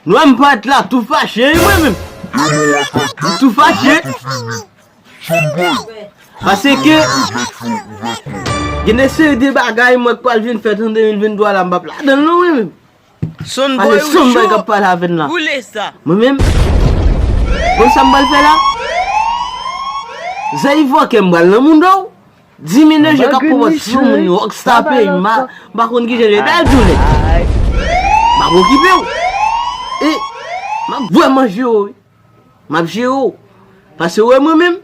Lwa m pat la tou fache wi mwen menm. M tou fache. Pase ke gen de seri de bagay mwen k pral vin fè an 2023 la m pap ladan l non mwen menm. Ale son boy kap pale avèn la. Mwen menm. Bon sam bal fè la. Zè yi vòkè mbal nan moun do. Dimine je kap pwòt sou moun yo. Ok sa pè yi ma. Mba konn ki jè jè. Dal joulè. Mba konn ki pè ou. E. Mba vwèman jè ou. Mba jè ou. Pase ou e mwen menm.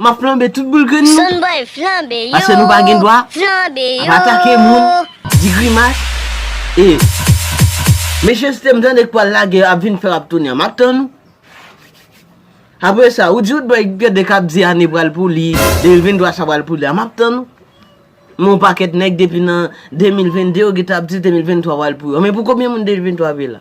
Map flanbe tout boul grenn nou. Son boy flanbe yo. Paske nou pa gen dwa. Flanbe yo. Ap atake moun. Di grimas. E. Mechanste m tande k pwal lage yo ap vin fè rap tonya. Map tann ou. Apre sa ou di ou t bay gen de kap di ane pral pou li. 2023 sa pral pou li a. Map tann ou. Men yon paket nèg depi nan 2022 yo geta ap di 2023 pral pou yo. Men pou konbyen moun 2023 ap ye la.